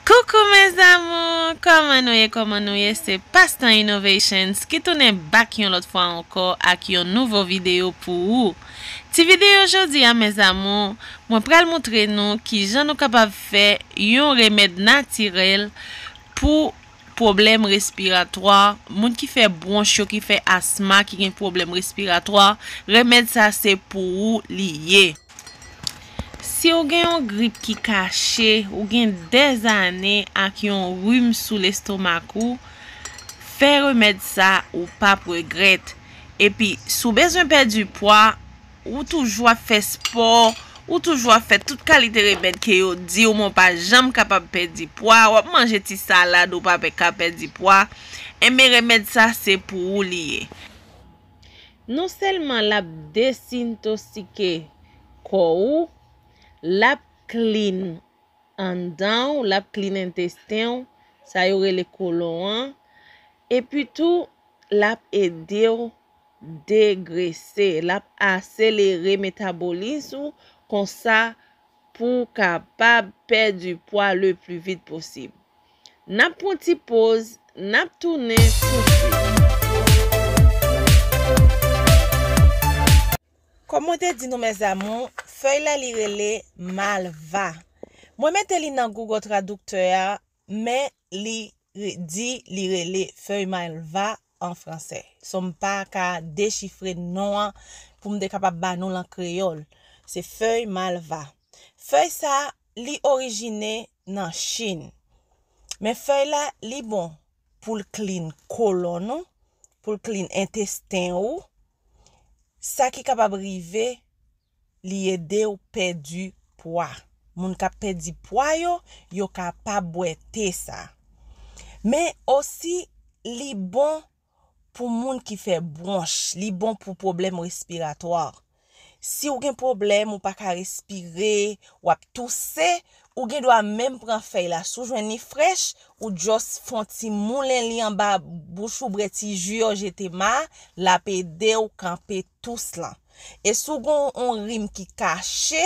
Coucou mes amours Koman nou ye koman nou ye se Pastan Innovations ki tounen back yon lòt fwa ankò ak yon nouvo video pou ou ti video jodi a mes amours mwen pral moutre nou kijan nou kapab fè yon remèd natirèl pou pwoblèm respiratwa, moun ki fè bwonch yo ki fè asma ki gen pwoblèm respiratwa, remèd sa se pou ou li ye. Siw gen yon grip ki kache, ou gen des ane ak yon rim sou lestomak ou, fè remèd sa ou pap regrèt. Epi si w bezwen pèdi pwa, Ou toujou ap fè spò, ou toujou ap fè tout kalite remèd ke yo diw men w pa janm kapab pèdi pwa, wap manje ti salad ou pa ka pèdi pwa, enben remèd sa se pou ou li ye. Non sèlman lap desintosike kò ou, lap clean anndan w, lap clean entesten w, sa yo rele kolon an, epi tou lap edew degrese, l ap aselere metabolis ou konsa pou w kapab pèdi pwa le pli vit posib. N ap pran ti poz, n ap tounen tousuit. Kòm mwen te di nou mes amour, fèy la li rele malva. Mwen mete li nan Google Traducteur a Men li di li rele fèy malva an fransè. So m pa ka dechifre non an pou m te kapab ba nou l an kreyòl. Se fèy malva. Fèy sa li orijine nan Chin. Men fèy la li bon pou l klin kolonn ou, pou l klin entesten ou, sa ki kapab rive li edew pèdi pwa moun kap pèdi pwa yo yo ka pa bwè te sa men osi li bon pou moun ki fè bronch li bon pou pwoblèm respiratwa siw gen pwoblèm ou paka respire wap touse ou gen dwa menm pran fèy la si w jwenn li frèch ou just fon ti moulen li anba bouch ou bre ti ju yo jete ma lap edew kanpe tous lan. E si w gon on rim ki kache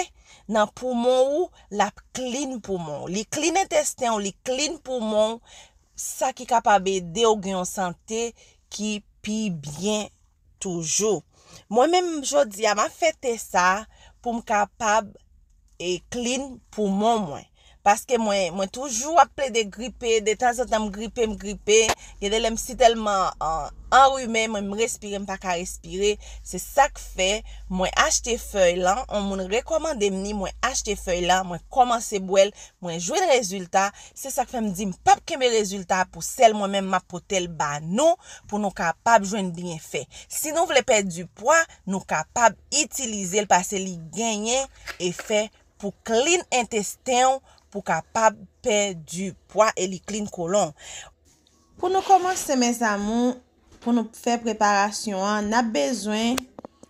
nan poumon ou, l ap klin poumon w. Li klin entesten w, li klin poumon w, sa ki kapab ede w gen yon sante ki pi byen toujou. Mwen menm jodi a, m ap fè te sa pou m kapab e clean poumon mwen paske mwen mwen toujou ap plede gripe de tan zan tan m gripe m gripe gen de lè m si tèlman anrime mwen m respire m pa ka respire se sak fè mwen achte fèy lan on moun rekòmande m ni mwen achte fèy lan mwen kòmanse bwè l mwen jwenn rezilta se sak fè m di m pap kenbe rezilta pou sèl mwen menm m ap pote l ba nou pou nou kapab jwenn byenfè si nou vle pèdi pwa Nou kapab itilize l pase li genyen efè pou klin entesten w pou w kapab pèdi pwa e li klin kolon w. Pou nou kòmanse mes amour pou nou fè preparasyon an nap bezwen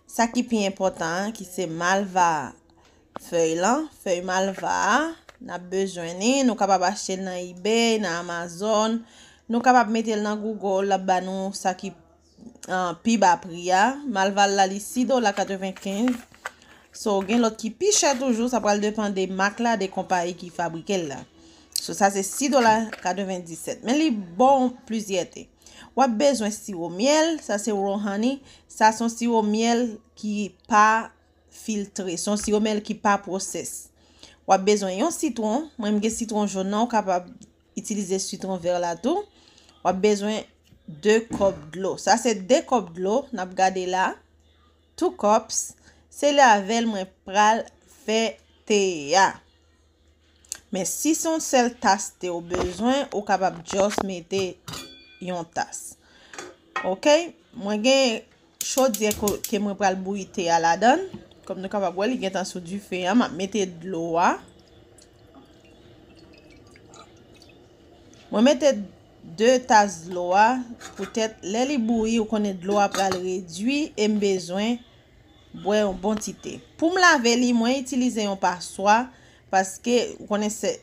sa ki pi enpòtan an ki se malva a fèy lan fèy malva a nap bezwen ni nou kapab achte l nan ebay nan amazon nou kapab mete l nan google lap ba nou sa ki pi ba pri a malval la li 6 dola 95 so gen lot ki pi chè toujou sa pral depan de mak la de konpayi ki fabrike l la so sa se 6 dola 97 men li bon plizyète wap bezwen siwo myèl sa se raw honey sa son siwo myèl ki pa filtre son siwo myèl ki pa pwosès wap bezwen yon sitwon mwen m gen sitwon jon nan ou kapab Itilize sitron vè la tou. W ap bezwen 2 kòp dlo. Sa se 2 kòp dlo n ap gade la. 2 cups. Se li avè l mwen pral fè te a. Men si se yon sèl tas te ou bezwen, ou kapab just mete yon tas. Ok. Mwen gen chodyè ke mwen pral bouyi te a ladan kòm nou kapab wè li gentan sou dife an map mete dlo a mwen mete 2 tas dlo a poutèt lè li bouyi ou konnen dlo a pral redwi em bezwen bwè yon bon ti te poum lave li mwen itilize yon paswa paske ou konnen se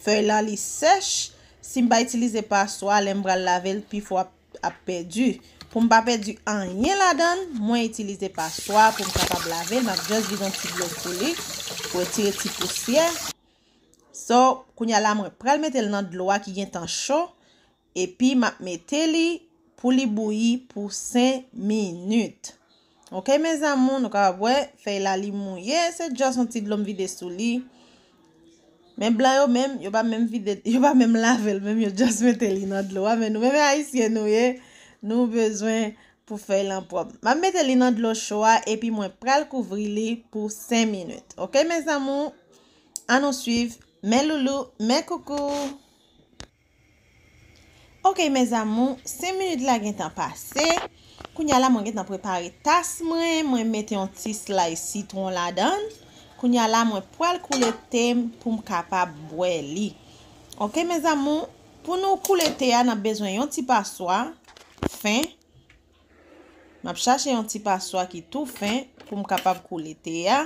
fèy la li sèch sim pa itilize paswa lèm pral lavel pi fò ap ap pèdi. Pou m pa pèdi anyen ladan l, mwen itilize paswa pou m kapab lave l. M ap just vide yon ti dlo sou li pou retire ti pousyè. So, kounye a la mwen pral mete l nan dlo a ki gentan cho. Epi m ap mete li pou li bouyi pou 5 minit. Ok mes amour nou kapab wè fèy la li mouye se just yon ti dlo m vide sou li men blan yo menm yo pa menm vide yo pa menm lavel menm yo just mete li nan dlo a men nou menm ayisyen nou ye nou bezwen pou fèy lan pwòp map mete li nan dlo cho a epi mwen pral kouvri li pou 5 minit ok mes amour an nou swiv mes loulous mes coucou. Ok mes amours 5 minutes la gentan pase kounya la mwen gentan prepare tas mwen mwen met yon ti slice citron ladan kounya la mwen pwal koule tem poum kapab bwè li ok mes amours pou nou koule te a nap bezwen yon ti paswa fen map chache yon ti paswa ki tou fen poum kapab koule te a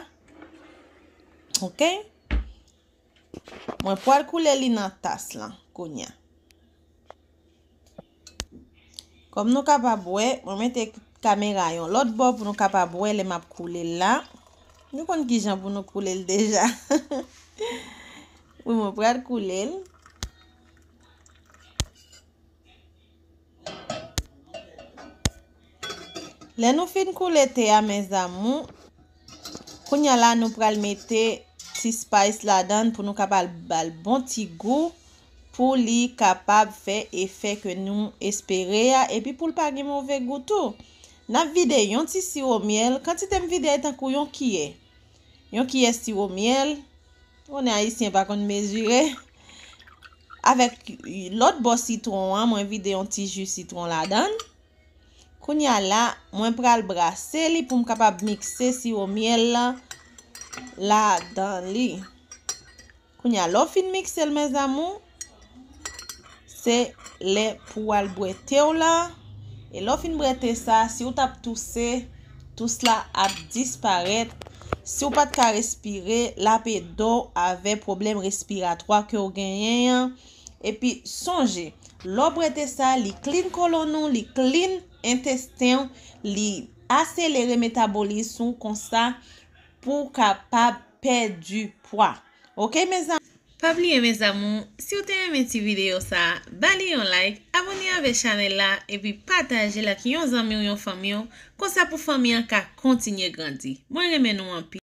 ok. Mwen pwal koule li nan tas lan kounya. Kòm nou kapab wè, mwen mete kamera yon lòt bò pou nou kapab wè lè map koule l la. Nou konn ki jan pou nou koule l deja. Wi mwen pral koule l. Lè nou fin koule te a mes amours, kounya la nou pral mete ti spice ladann pou nou kapab bal bon ti gou pou li kapab fè efè ke nou espere a epi poul pa gen move gou tou. Nap vide yon ti siwo myèl, kantite m vide a e tankou yon kiyè. Yon kiyès siwo myèl, ou konnen ayisyen pa konn mezire, avèk lòt bò sitwon an mwen vide yon ti ji sitwon ladan l. Kounye a la mwen pral brase li pou m kapab mikse siwo myèl lan ladan li. Kounya lè w fin mikse l mes amours se lè pou w al bwè te w lan e lè w fin bwè te sa si w tap touse tous la ap disparèt si w pat ka respire lap ede w avè pwoblèm respiratwa ke w genyen an epi sonje lè w bwè te sa li klin kolonn ou li klin entesten w li aselere metabolism ou konsa Pou w kapab pèdi pwa ok mes amour. Pa bliye mes amour siw te renmen ti video sa ba li yon like abone avè chanèl la epi patajel ak yon zanmiw yon fanmiw konsa pou fanmi an ka kontinye grandi mwen renmen nou anpil.